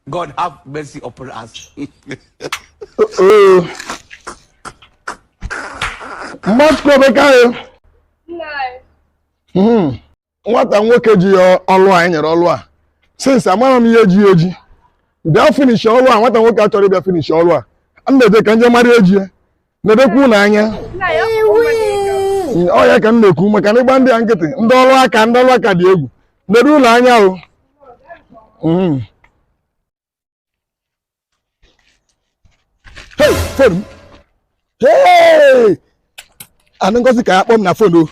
God have mercy upon us. Mmadụ kwebe ka anyị. Nwata nwoke ji ọlụ a e nyere ọlụ a. Since amara m ihe ji eji. Bịa finish ọlụ a, nwata nwoke achọrọ ịbịa finish ọlụ a. M na-eje ka m je mara ihe ji ya. nedokwa ụlọ anya ọ ya ka m na-ekwu maka na ị gba ndị a nkịtị ndị ọrụ aka ndị ọrụ aka dị egwu nedo ụlọ anya o Mhm. Hey, fon m. Hey! anụ Ngozi ka akpọ m na fon o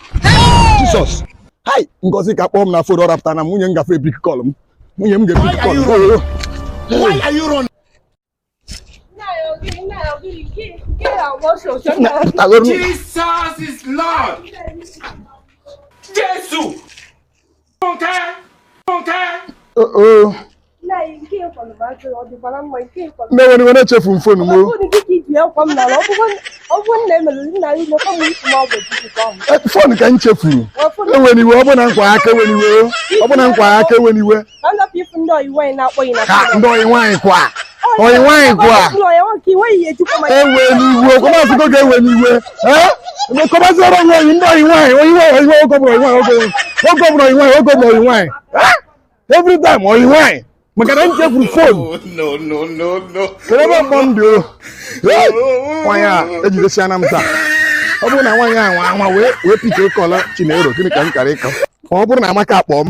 jisọs hai Ngozi ka akpọ m na fon ọ rapụta na nwunye m gafe epik kọl m nwunye m ga-epik kọl m Oh, oh, oh. Why are you running? Jesus is Lord. Jesus. Nne ewena iwe echefu m fonu m. Fonu ka m chefuru. Ewena iwe ọ bụ na nkwa aka ewena iwe. Ọ bụ na nkwa aka ewena iwe. ndị oyi nwaanyị kwa oyi nwaanyị kwa ewena iwe kọmasịgo ga-ewe n'iwe kọmasịrọ onwe oyi ndị oyi nwaanyị oyi nwaanyị oyi nwaanyị ogobụrụ oyi nwaanyị ogobụrụ oyi nwaanyị ogobụrụ oyi nwaanyị every time oyi nwaanyị maka na m chefuru fon kere ebe mkpọ m dị o nwaanyị a ejidesiana m taa ọ bụrụ na nwaanyị a nwa nwa wee wee pikie kọl a Chinelo gịnị ka m kara ịkọ ka ọ bụrụ na Amaka akpọọ m